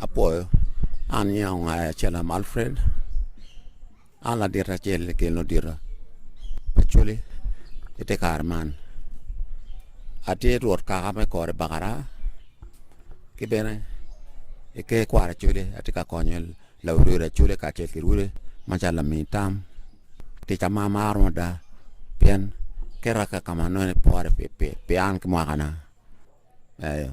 Apwoyo, an nyinga Ongaya Acellam Alfred, an ladit acel ki i Ludito pa Coli i te kare man. Atye rwot kaka me kor i Bakaraa ki bene i ker kwaro Acoli atye ka konyo laurudi Acoli kacel ki Lurudi macalo lami tam. Ticca ma amaro mada pien keta ka ma anongo ni pore pi an ki mwakana. Eyo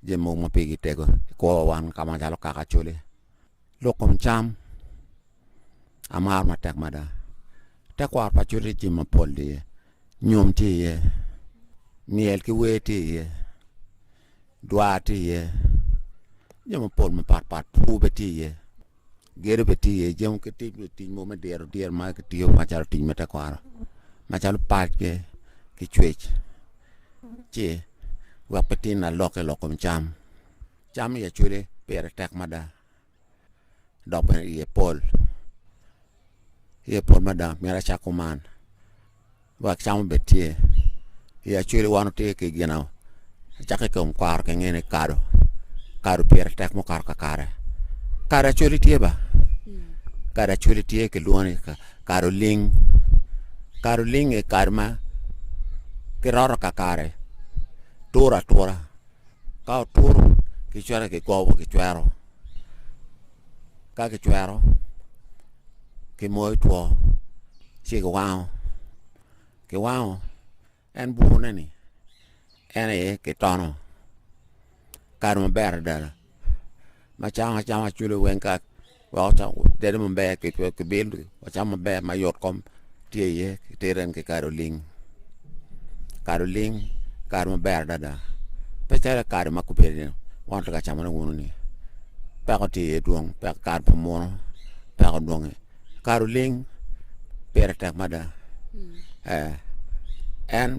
jami mogo ma pigi tego i kwowa wan ka macalo kaka acoli lok kom cam amaro matek mada tekwaro pa acoli jami mapol tye iye nyom tye iye myel ki wer tye iye dwar tye iye jami mapol mapatpat pur bene tye iye. Gedo bene tye iye jemo ki tic bene tic mogo me diro diro ma kitiyo macalo tic me tekwaro macalo pac ki ki cwec ci wek pe tin na lok ki lok kom cam, cam i acwele pire tek mada dok bene iye pol iye pol mada myero acak kuman Lwak cam obed tye i acwele wan watye ki gin acakki i kom kwaro kinge ni kado, kado pire tek mukato kakare, kado acwele tye ba, kado acwele tye kilwongo ni kado ling, kado ling aye kado ma kiroto kakare turo atura ka oturo kicwero kigobo kicwero ka kicwero kimoyo two ci kiwango kiwango en bukune ni en aye kitono kare maber adada macam acama cwalo weng ka weko tedo maber kibilo wacam maber mayot kom Tye iye ki teren ki kado ling, kado ling kado maber adada pe calo kado ma gubedo ni weng wutye ka camone wunu ni peko tye iye dwong peko kado pa muno peko dwonge kado ling pire tek mada ee en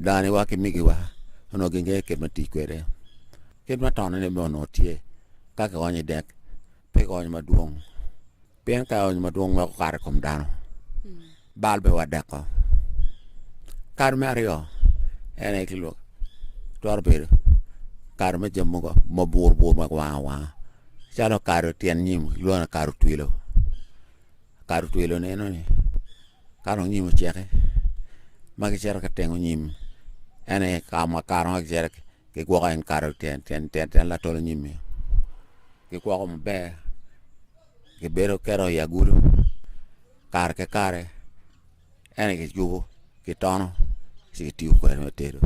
dani wa ki migi wa onongo gi ngeyo kit ma tic kwede kit ma tone ni bene onongo tye ka ki onyo i dek pe ki onyo madwong Pien ka ony madwong meno okato i kom dano, bal bene wadeko. Kare me aryo en aye ki lwak, twero bedo kare me jami mogo ma burbur ma wang awanga, calo kare tyen nyim i lwongo ni kare otwilo. Kare otwilo ni enoni ka dong nyim ocek ma gicito ki tengo nyim en aye ka ma kare ma gicito kigwoko en kare tyen tyen tyen latolo nyim-mi, gikwoko maber. kibedo keto i agulu kare ki kare ento kiyubo kitono ci kitiyo kwede me tedo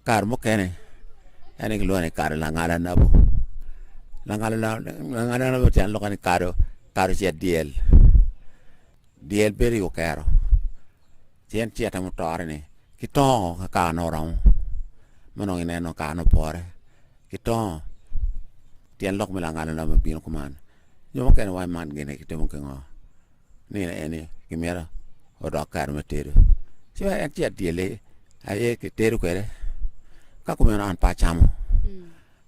kare mukene en kilwongo ni kare langala nabu langala nabu tyen lok ni kado kado cet dyel dyel bedo i okero ci en cete mutore ni kitongo ka kare ne oromo ma nongo ineno kare ne opore kitongo Tyen lok me langana na me bino kuman, jo mukene wa man gine ki timo kingo? Ni ne eni ki mira odok kare me tedo. Ci wa en ci adyele aye ki tedo kwede. Ka kumeno an pa acamo.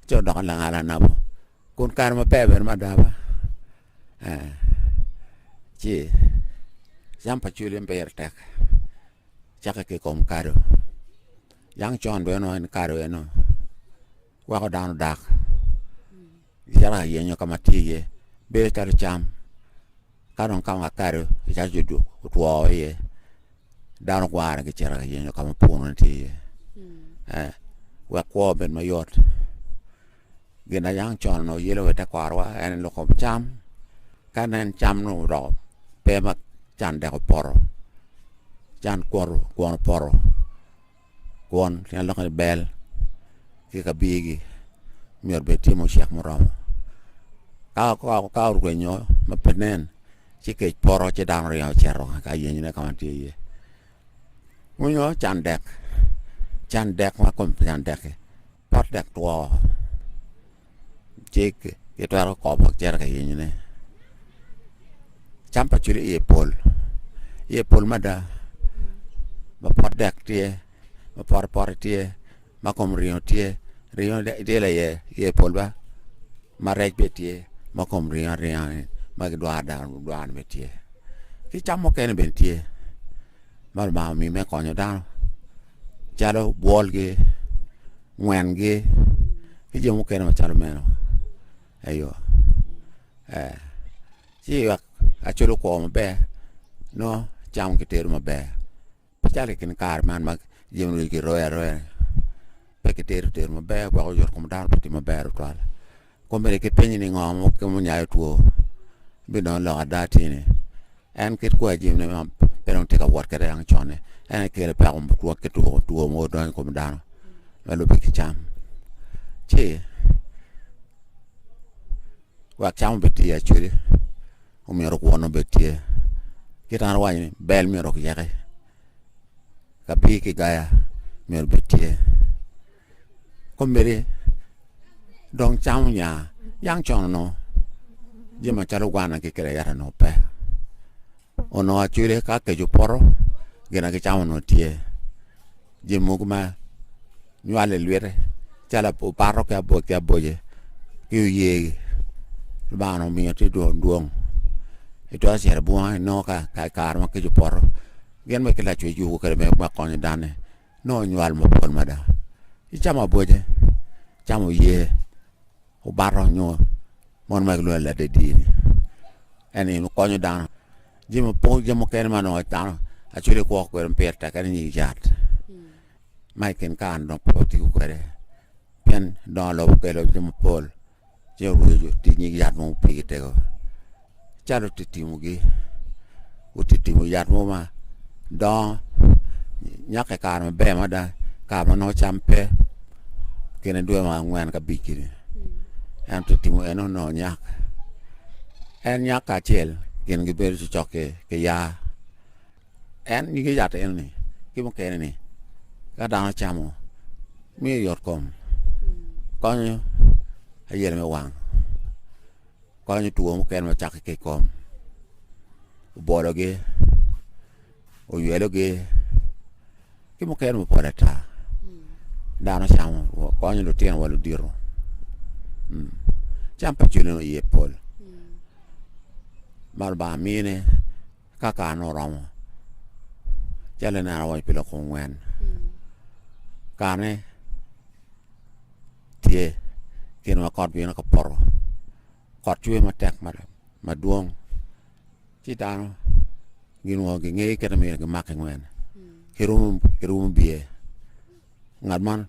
Ci odoko langana anabo. Kun kare ma ber bene mada ba. Eh. Ci cam pa culi en pire tek. Cake ki kom kado. Yang con bene no en kado eno. weko dano dak calo ka yenyo ka ma tye iye bedo calo cam ka dong ka ma kado calo cuduk otwo iye dano gwarone gicito ka yenyo ka ma puno tye iye wek kwo obed mayot gin ma yang con onongo yelo wa i te kwarowa en loko cam ka nen cam nongo odoko pe ma can dek opoto can kwono opoto. kwon tye lok ni bel ki ka bigi myero bed tye mucek muromo ka ka ka orwenyo ma pe nen ci kec poto ci dano ringo cito ka yenyone ka ma tye iye onyo can dek can dek ma kome pe can dek-ki pot dek two ci kitwero koko bok cito ka yenyone cam pa cwili iye pol iye pol mada ma pot dek tye ma pote pote tye ma kom ringo tye ringo tye laye iye pol ba ma rec bene tye ma kom ringo aringa ni ma kidwaro dano dwaro ni bene tye ki cam mukene bene tye ma lubanga omiyo me konyo dano calo bwolgi ngwengi ki jo mukene macalo meno eyo eh ci wek aculo kwor maber nongo cam kitero maber pe calo i kin kare man ma jami onongo kiroyo aroya pe kitero teru maber weko yot kom dano pe tye maber tutwal. Kong bene kipenyi ni, 'Ngo mo keken munyayo two? Bidongo lok ada atir ni, en kit kwai jami ma pe dong tye ka wot kwede dang con-ni, en aye kelo peko twak ki two, two mogo donyo i kom dano ma lubbe ki cam. Ci wek cam obed tye iye acwele, omyero kwon obed tye. Kit ma an awaco ni, bel myero oyeke, kabir ki gaya myero obed tye. komede dong camo nya yang cono no jami macalo gwana ki kede ayata onongo pe onongo acwele ka keco poto gin na gicamo onongo tye jami mogo ma nywale ilwite calo opato ki aboc ki aboce ki oyegi Lubanga onongo omiyo tye dwong dwong itwero cito i bunga inongo ka i kare ma keco opoto gin ma ki lacwec yubu kede me konyo dano-ni nongo nywal mapol mada icamo aboce, icamo ye, obato nyo mon ma kilwongo ni ladedi ni en gin konyo dano jami mapol jami mukene ma nongo dano acwele kwo kwede ma pire tek en aye nying yat ma i kin kare-ni dong pe watiko kwede pien dongo lobo okelo jami mapol Ci oweyo jo otic nyig yat mo mupigi tego. Calo titimogi, otitimo yat mo ma dongo nyak i kare maber mada, kare ma nongo cam pe, kine dwe ma angwen ka abic kiri. En otitimo eno nongo nyak. En nyak kacel, kingi bedo cocok ki, ki yaa. En nyige yat enoni ki mukene ni ka dano camo miyo yot kom konyo ayel me wang konyo two mukene macake ki i kom obologi oywelogi ki mukene mapol ata dano camo konyo lutino wa ludito mm. cam pa cwinyo iye pol ma Lubanga mine Ka kare-nu oromo, calo ineno awaco pi lok ongwen, kare-ni tye kine ma kot bino ka poto, kot cwer matek mada madwong ci dano ginwongo gingeyo kit ma myero gimak ki nwen, kirumo kirumo biye. ngat man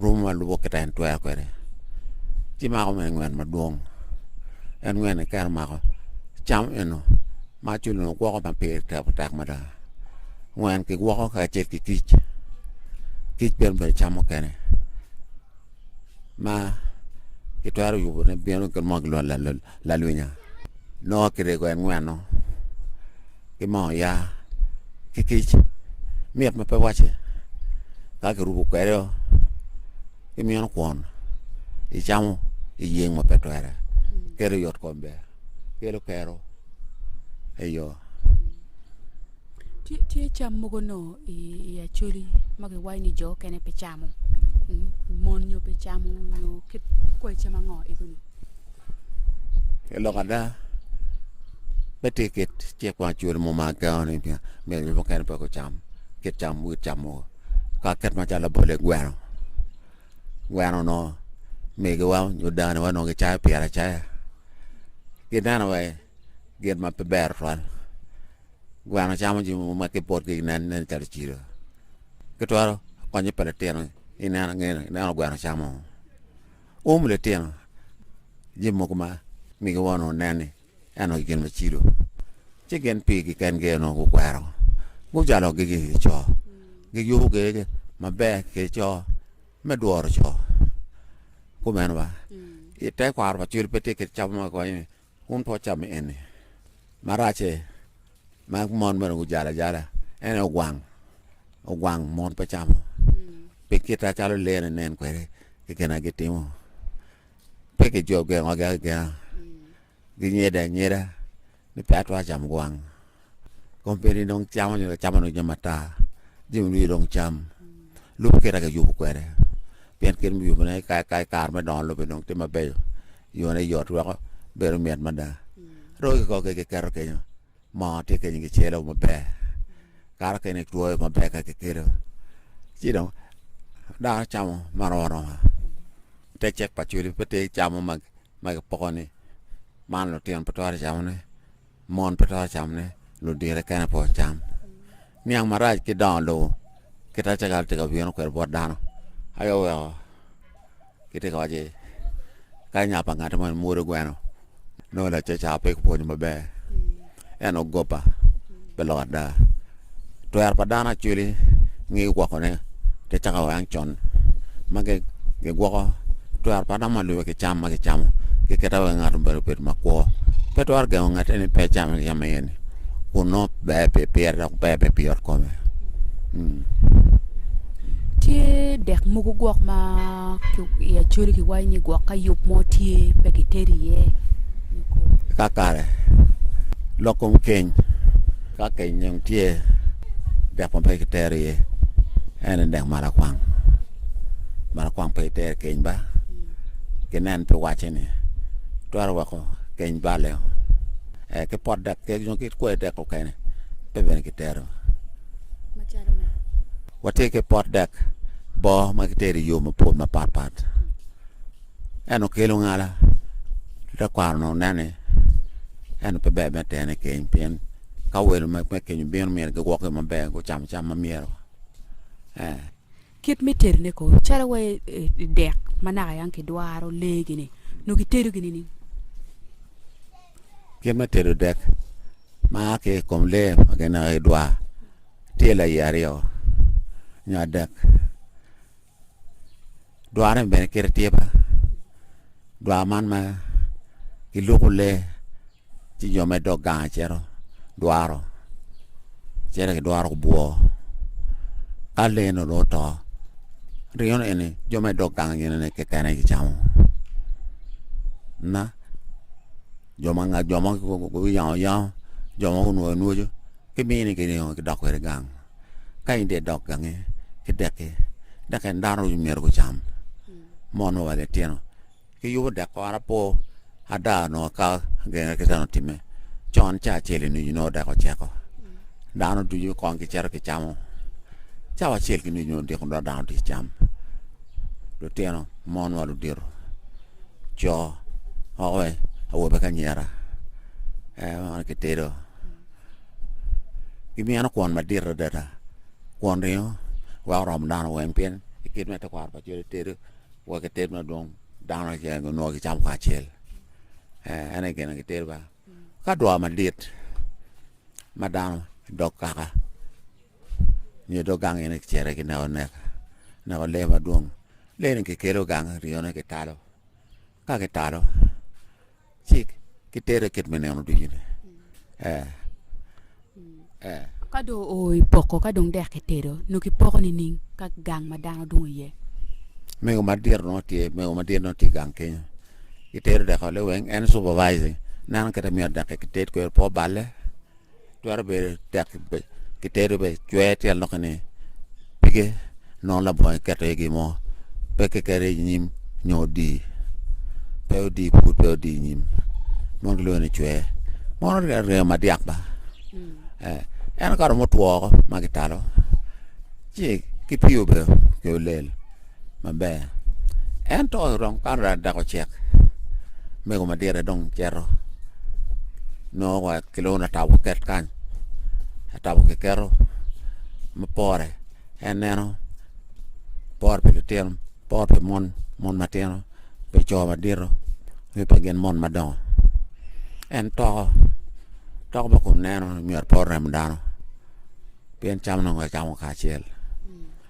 romo ma lubo kita en twero kwede ci mako me ngwen madwong en ngwen ni kero mako cam eno ma culu ni gwoko ma pire teko tek mada ngwen ki gwoko ka acel ki kic kic bene bedo cam mukene ma kitwero yubo ne bino ki mo gilwal Lalwinya, nongo kirego en ngweno ki moo oya ki kic mit ma pe wacce ka kirubo kwede o ki mino kwon icamo iyeng ma pe twere kelo yot kom ber kelo kero eyo. Tye cam mogo nongo i Acholi ma giwaco ni jo mukene pe camo, mon nyo pe camo nyo kit kwai cam ango egoni? Lok ada, pe tye kit cik ma Acholi muma gengo ni myero jo mukene pe gucam kit cam wit cam mogo ka kit macalo labole, gweno, gweno onongo migiwa nyo danowa onongo gicayo pire acaya. Gineno wa gin ma pe ber twal. Gweno camo jami mogo ma ki potgi ginen nen calo cilo. Ki twero konyo pa litino ineno ngene ineno gweno camo ngo. Um litino jami mogo ma migi wongo nongo nen ni eno aye gin ma cilo. Ci gin pigi kengi aye nongo gukwero gujalo gigi ki co, giyubo gege maber ki co me dworo co. Kumeno wa, itekwaro pa cwil pe tye kit cam ma konyo ni Wun pe wucam enni. Maracce ma mon mere gujalo ajala en aye ogwang, ogwang mon pe camo pi kite calo lee ni nen kwede ki gin ma gitimo. Pe kigengogi agenga, ginyede anyeda ni pe atwero camo gwang. Company dong camo nyo camo dong jami matar jami nongo dong cam lobo kit agi yubo kwede pien kit me yubone i kare me dongo lobo dong tye mabeco yone yot weko bedo mit mada roki kiko ki kiketo kenyo moo tye kenyo kicelo maber kato kene itwoyo maber ka kikelo ci dong dano camo marom aroma te cek pa cwodi pe te camo ma kipoko-ni man lutino pe twero camone. Mon pe twero camo ne ludire kene pe ocam. Niang marac ki dongo lobo kit ma cakal tye ka bino kwede bot dano aye oweko kitye ka waco ni kadi nya pa ngati mo imwodo gweno nongo lacaca pe kipwonyo maber ento goba pe lok ada. twero pa dano actually ngi woko ne te cako wa wang con ma gigwoko twero pa dano ma lube ki cam ma gicamo ki kite wai ngato obedo obedo ma kwo pe twero gengo ngate ni pe cam yam aye ni kun nongo ber pi pire dok ber bene pi yot kome tye dek mogo gwok ma i acoli ki wayo ni gwok ka yub mo tye pe ki teri iye kakare lok kom keny Ka kenyong tye dek ma pe kitero iye en aye dek malakwang. Malakwang pe itero keny ba ginen pi wacce ni twero weko keny bale o. Eh, ki pot dek kek nyo ki kwe dek okene pe bene kitero. Macalo ne. Watye ki pot dek boo ma kitero i yo mapol mapatpat. En okelo ngala. Tekwaro-nu onen ni en pe ber me tene keny pien ka welo me keny obino myero giwok yo maber, gucam cam ma myero. Eh. Kit me tedone ko, calo wa dek ma naka yang kidwaro lee-gini, nongo kitedo gini ni? Kit me tedo dek ma a ki i kom lee ma gineko idwar tye laye aryo nyo adek. Dwaro ni bene kite tye ba dwaro man ma giluko lee ci jo me dog gang acito dwaro cito gidwaro gubwo ka lee nongo dong oto ringo ni eni jo me dog gang ginene kekene gicamo ma jo ma jo ma guyango ayango jo ma gunwoyo anwoco kimini giringo gidok kwede gang. Ka in dong idok gange ki dekki, dok en dano ducu myero gucam, mono wa litino ki yubo dek kore apo ada onongo ka genge ki teno time con ca acel i nucu nongo dek oceko dano ducu kong gicito gicamo cawa acel ki nucu nongo odiko dok dano tye cam lutino mon wa ludito co owe awobe ki anyira en meno kitedo gimyeno kwon madit adada kwon ringo wa oromo dano weng pien i kit me tekwaro pa col itedo wa kited madwong dano keken onongo gicamo kacel eh, en aye gin gitedo ba ka dwa madit ma dano dog kaka nyo dog gang ene kicere ki neko nek neko lee madwong lee-ni kikelo gang ringone kitalo ka kitalo cik ki tere kit me neno ducu ni eh eh ka do o i poko ka dong dek kitedo no kipoko ni ning ka gang ma dano dong oye mego madit no tye mego madit no tye gang kenyo itero deko le weng en supervising neno kete miyo dek kited kwero po balle Twero bedo tek ki tedo be cwer tyel noki ni pige nongo labongo iketo iye gin mo pe kikeri inyim nyo odi pe odi pud pe odi inyim mono gilwongo ni cwer mono ringo madyak ba en ka romo two woko ma kitalo ci ki pii obedo ki olel maber ento dong kan raa dako cek mego madite dong cito nongo wa kilwongo ni atabo ket kany atabo kiketo ma pore en neno pore pi litino pore pi mon mon matino pi co madito nyo pi gin mon madongo en toko toko ma kun neno ni myero pe orem dano pien cam nongo kicamo kacel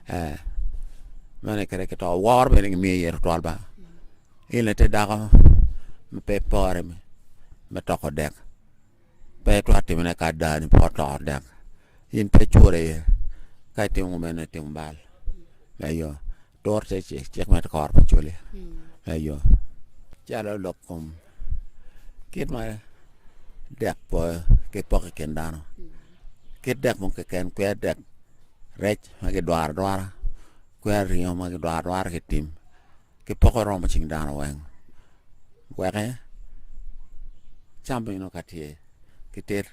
Ee, meno aye kit ma kito woro bene kimiyo iye tutwal ba. In aye te dako ma pe pore me, me toko dek, pe itwero timone ka adani pe otoko dek. In pe icure iye, ka itimo kumeno itimo bal. Eyo, tur te ci- cik me kor pa col-li. Eyo, calo lok kom. kit ma dek po ki poko i kin dano kit dek mo keken kwer dek rec ma kidwaro adwara kwer ringo ma kidwaro adwara ki tim ki poko romo cing dano weng weke cam bene nongo ka tye kiter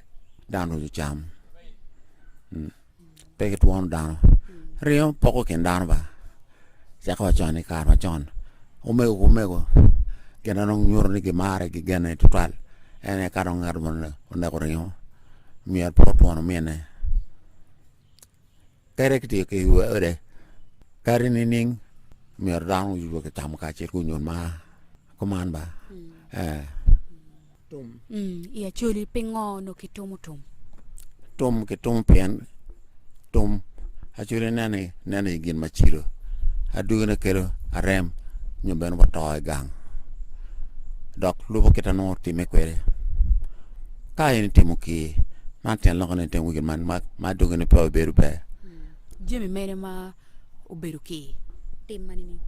dano ducu cam pe gitwono dano ringo poko kin dano ba cako wa con i kare macon omego ki omego gin ma nongo nyuto ni gimare gigene tutwal en aye ka dong ngat mo oneko ringo myero pe otwon omine kadi kitiyo ki we ode kadi nining myero dano oyub wa ki camo kacel ki onyon mar kuman ba ee Tum. Mm, I Acholi, pingo onongo kitumo tum? Tum kitumo pien tum Acholi nene nene i gin macilo. Adwogine kelo arem nyo bene wato i gang. Dok lubo kita nongo time kwede. Ka in itimo ki man tyen loko ni itimo gin man ma adwogine pe obedo ber. Jami mene ma obedo ki tim ma nining?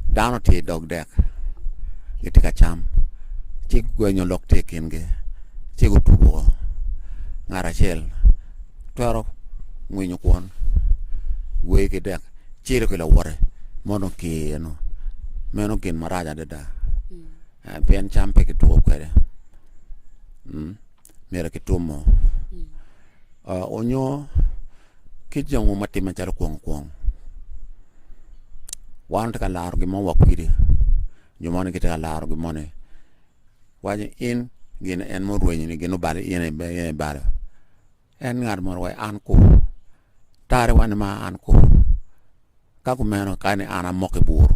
Dano tye i dog dek, gitye ka cam, ci gwenyo lok tye i kingi, ci gutum woko. Ngat acel twero ngwinyo kwon, gweyo ki dek, ciro ki lawote ma onongo tye iye-nu. Meno gin marac adada, pien cam pe kituko kwede. myero ki tumo onyo ki jongo ma timme calo kwong kwong wan tye ka laro gin mo wa kwidi nyo moni gitye ka laro gin moni waco in gin en murwenyo ni gin obalo in ibalo en ngat moro waco an kur Tare wan ma an kwo. Ka kumeno kani an amoko i bur.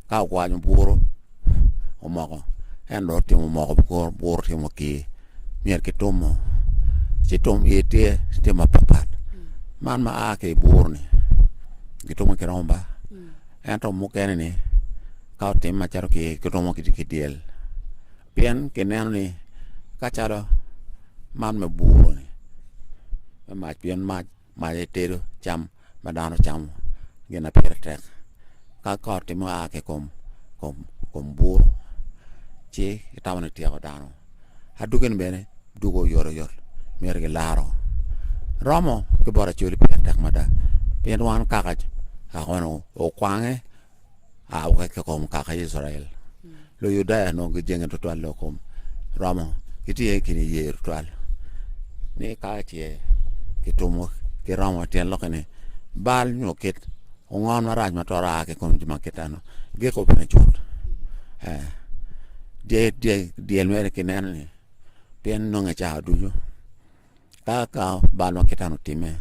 Ka okwanyo bur omoko en dong otimo moko kor bur otimo ki myero ki tum mo. Ci tum iye tye tye ma pat pat. Man ma a ki i bur ni ki tumo ki romba. Ento mukene ni ka otim macalo ki ki tumo ki dyel. Pien kineno ni ka calo man me buru-ni me mac, pien macce tedo cam ma dano camo gin ma pire tek. Ka kot tye ma oa ki i kom bur ci kitamo ni tyeko dano. Adwogi-ni bene dwogo oyotoyot myero kilaro. Romo ki bot Acholi pire tek mada pien wan kaka akono okwange a woko ki kom kaka Icrael. Luyudaia onongo gijenge tutwal lok kom romo gitye ki niye tutwal ni ka ce kitumo ki romo tyen lokke ni bal nyo kit ongon marac ma twero a ki kom jo ma kitano gik obene cut eh, dye- dye- dyel mere kineno ni pien nonge cawa ducu Ka ka bal ma Catan otimme,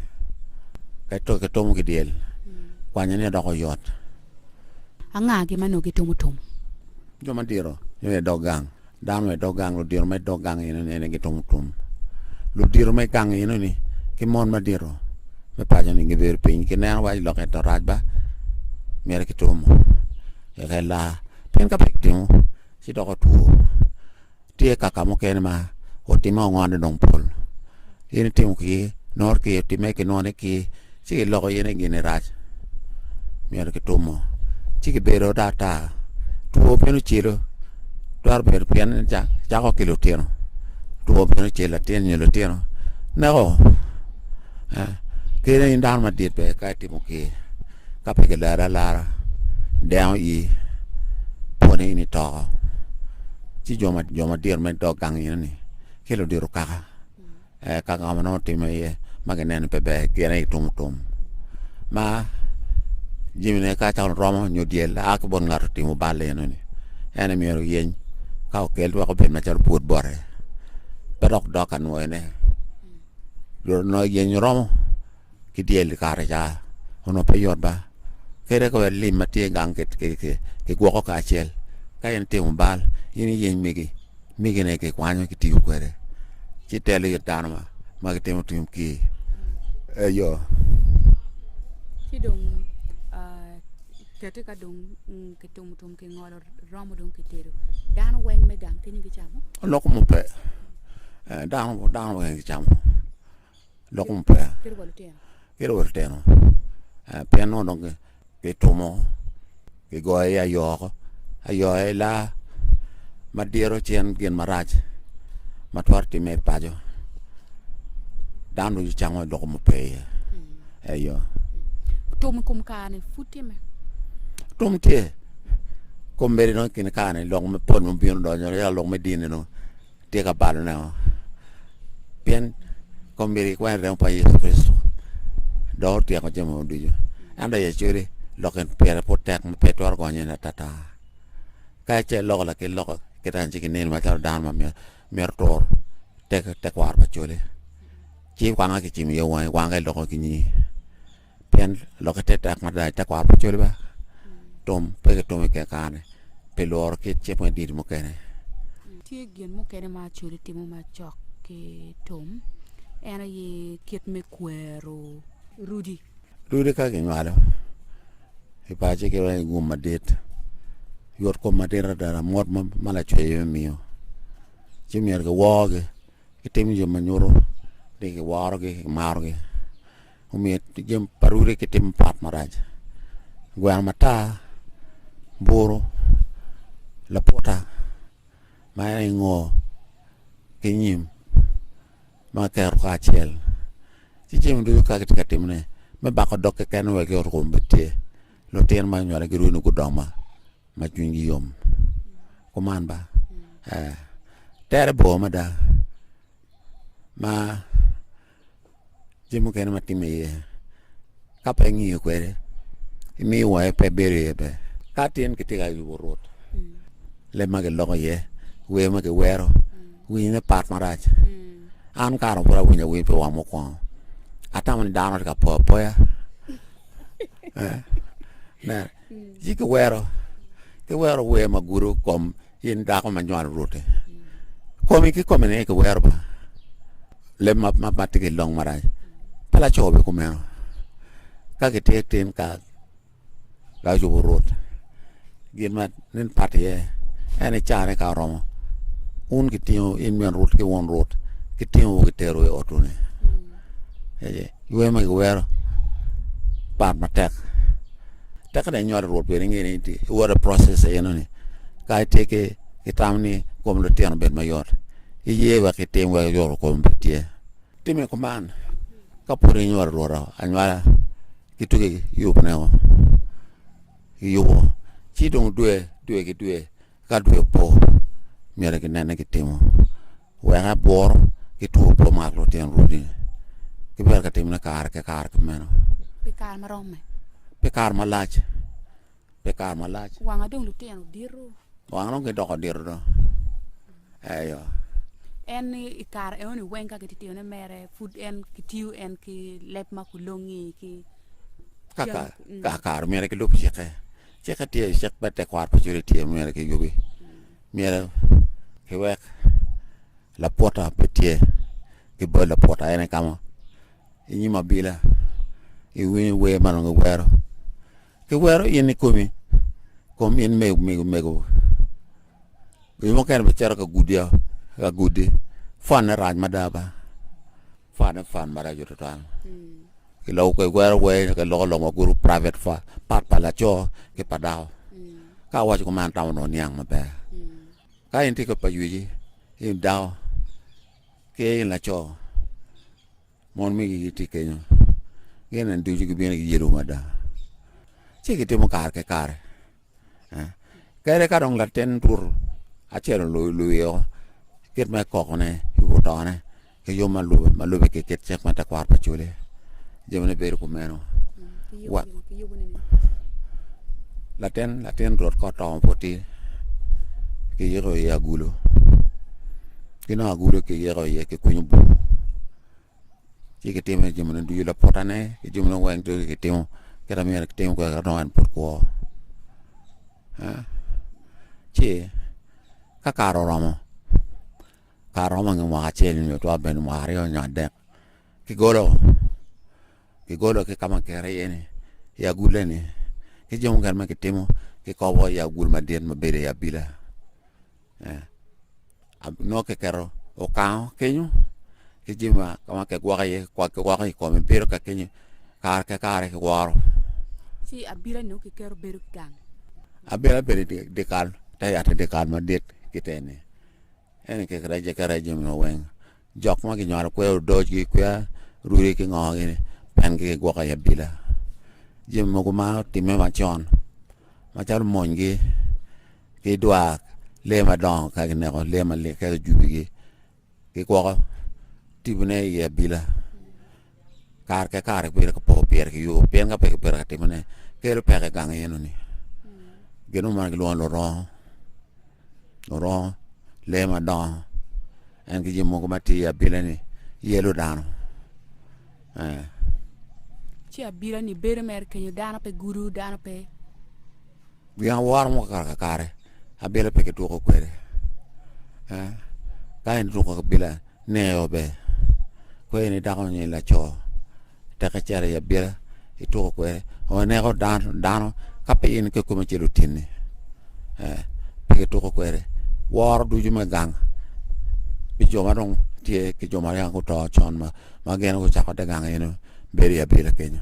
ka to kitomo ki dyel, kwanye ni doko yot. Anga gin ma nongo gitimo tum? Jo madito nyo i dog gang, dano me dog gang, ludito me dog gang eno ni gitimo tum. Ludito me gang eno ni ki mon madito me paco ni gibedo piny ki neno waci lok ento rac ba myero kitumo eka ela pien ka pe kitimo ci doko two. Tye kaka mukene ma otimme ongonne dong pol. In itimo ki nor ki otimme ki none ki ci kiloko yene gini rac. Myero kitumo. Ci kibedo daktar. Two bino cilo. Twero bedo pien cako ki lutino. Two bino cilo latin nyo lutino. Neko. Kene in dano madit be ka itimo ki. Ka pe kilarre alara, dengo ii pwonye in itoko. Ci jo ma jo madit me dog gang ino ni ki ludito kaka eh, kaka ka ma nongo timme iye ma gineno ni pe ber gin aye itumo tum ma jimine ka cako romo nyo dyel a ki bot ngat otimo balle ino ni en myero oyeny ka okel wek obed macalo pwod bote pe dok dok ka nwoyone dul nongo yeny romo ki dyel kare ca onongo pe yot ba kadi ka wek lim ma tye i gang kigwoko kacel ka in itimo bal in iyeny migi migine kikwanyo kitiyo kwede ci itelo it dano ma gitimo tung kir eyo. Ci dong kete ka dong kitumo tum kingolo romo dong kitedo dano weng me gang kini gicamo? Lok mupe dano dano weng gicamo. lok mo peya kit wa lutino pien nongo dong kitumo kigoyo i ayo oko ayo aye laa ma diro ci en gin marac ma twero timme i paco dano ducu cango lok mo pe iye ayo tum i kom kare-ni pud tye me tum tye kombeddi dong i kin kare-ni lok mapol ma obino donyo yaka lok me dini dong Tye ka balo nen pien kombeddi ki kwene remo pa Yecu Kricito dok otyeko jami mogo ducu. Ento aye codi lok en pire pud tek ma pe twero gonyo in atata. Ka ice loko lakit loko kit anci ki nil macalo dano ma mito tur tekwaro pa codi, ci wange kicimo iye wangi, wange iloko ki nyingi. pien lokke te tek mada i tekwaro pa col ba tum pe ki tum i ke kare-ni pi lworo kit cik me dini mukene tye gin mukene ma acoli timo macok ki tum en aye kit me kwero rudi rudi ka kinywalo i paci ki weng igum madit yot kom madit ada lamot ma ma lacweyo me miyo ci myero kiworogi kitimo jo ma nyuto ni kiworogi kimarogi omiyo jami pa rwodi ki timo pat marac gweno matar buru laputa ma en i ngo ki nyim ma kiketo kacel ci jami ducu ka kitye ka timone me bako dog keken wek yot kom bed tye lutino ma inywali girwodi ni gudong ma ma cwinygi yom kuman ba ee tere bor mada ma Jami mukene ma timme iye ka pe ingiyo kwede imiyo wange pe bedo iye ber. Ka tin kitye ka yubo rwot, leb ma kiloko iye, wer ma kiwero, winyne pat marac. An kare pud awinyo awiny pi wang mukwongo. Atamo ni dano tye ka po apoya. Eh, nen, ci kiwero, kiwero wer ma gudo kom In dako ma nywalo rwoti, komi ki komi ni kiwero ba leb ma ma ma tiki long marac. Pa laco be kumeno. Ka gitye tin ka ka yubo rwot, gin ma nin pat iye en ni carne ka oromo, wun gitingo in min rwot ki won rwot, gitingo gitero i otwu ni. Lweny ma kiwero part matek. Tek dong inywalo Rwot pien ingeyo ni iwoto i process enoni. Ka itye ki itam ni kom lutino obed mayot, iye wek itim wek iyot kom obed tye. Timme kuman ka pud inywalo Rwot anywala ki tuki yubne woko. Iyubo ci dong dwe, dwe ki dwe Ka dwe opo, myero ginen ni gitimo wek abworo ki two opo mar lutino runi. Kibedo ka timone kare ki kare ki meno. Pi kare ma romme. Pi kare malac. Pi kare malac. Wanga dong lutino dito. Wanga dong gidoko dito do. Eyo. En ni i kare eno ni weng ka kititiyone mere pud en kitiyo en ki leb ma kulongi ki kaka mm. kare myero ki lub cike Cik ka tye, cik me tekwaro pa cwiny tye myero ki yubi, myero ki wek laputa pe tye ki bot laputa ene kamo inyim abila iwinyo wer ma nongo iwero ki wero in ikomi kom in me mego mego wi mukene bicito ka gudi ka gudi fone rac mada ba. Fund e fund maraco tutwal. I lok kwe gwero wer ke loko lok maguru private fund part pa laco ki pa dako. Ka awaco ko man tamo no niang maber. Ka in tiko pa yuji in dako ki in laco mon mi gi ti kenyo gin en ducu gibino giyelo mada. Ci gitimo kare ke kare. Kadi ka dong latin tur acel oluyo kit me kokone ki otone ki yom ma lube ma lube ki kit cik ma tekwaro pa cule jamine bedo kumeno wa latin latin rot ka otongo pud tye ki yiko iye agulu ki nongo agulu ki yiko iye ki kunyo bur ci kitimo ni jami ducu lapotane ki jami ne weng ducu kitimo kit amyero kitim kwede ka nongo en pud kwo ci ka kare oromo kare romo nge mwaka acel nyo twero bedo mwaka aryo nyo adek kigolo kigolo ki kama kikeri iye ni i agule ni ki jami mukene ma kitimo kikobo i agul madit ma bedo i abila nongo kiketo okango kenyo ki jami ma ka ma kigwoko iye kigwoko i kome bedo ka kenyo kare ka kare kiworo ci abila nyo kiketo bedo ki gang abila bedo i dikal te yat i dikal madit kiteni ene kiketo iye kiketo iye jami ma weng Jok ma kinywalo kwero odocgi kwiya rudi ki ngogi ni pen ki gigwoko i abila. Jami mogo ma otimme macon macalo monygi ki dwar lee madongo ka gineko lee malik ka gijubigi ki gwoko tibone i abila. kare ki kare bedo ka po pire ki yubu pien ka pe ki bedo ka timone kelo peko i gang eno ni gin mo ma gilwongo ni lurongo lurongo lee ma dongo en ki jami mogo ma tye i abila ni yelo dano eh ci abila ni bedo mere kenyo dano pe gudo dano pe gin aworo mo kare ka kare abila pe ki tuko kwede eh ka en tuko ki abila Neo be kweyo ni dako nyo laco tek ecero i abira ituko kwede oneko dano dano ka pe in ke kome ce lutinni eh, pe kituko kwede woro ducu me gang pi jo ma dong tye ki jo ma yaka guto con ma ma gin gucako te gang eno bedo i abira kenyo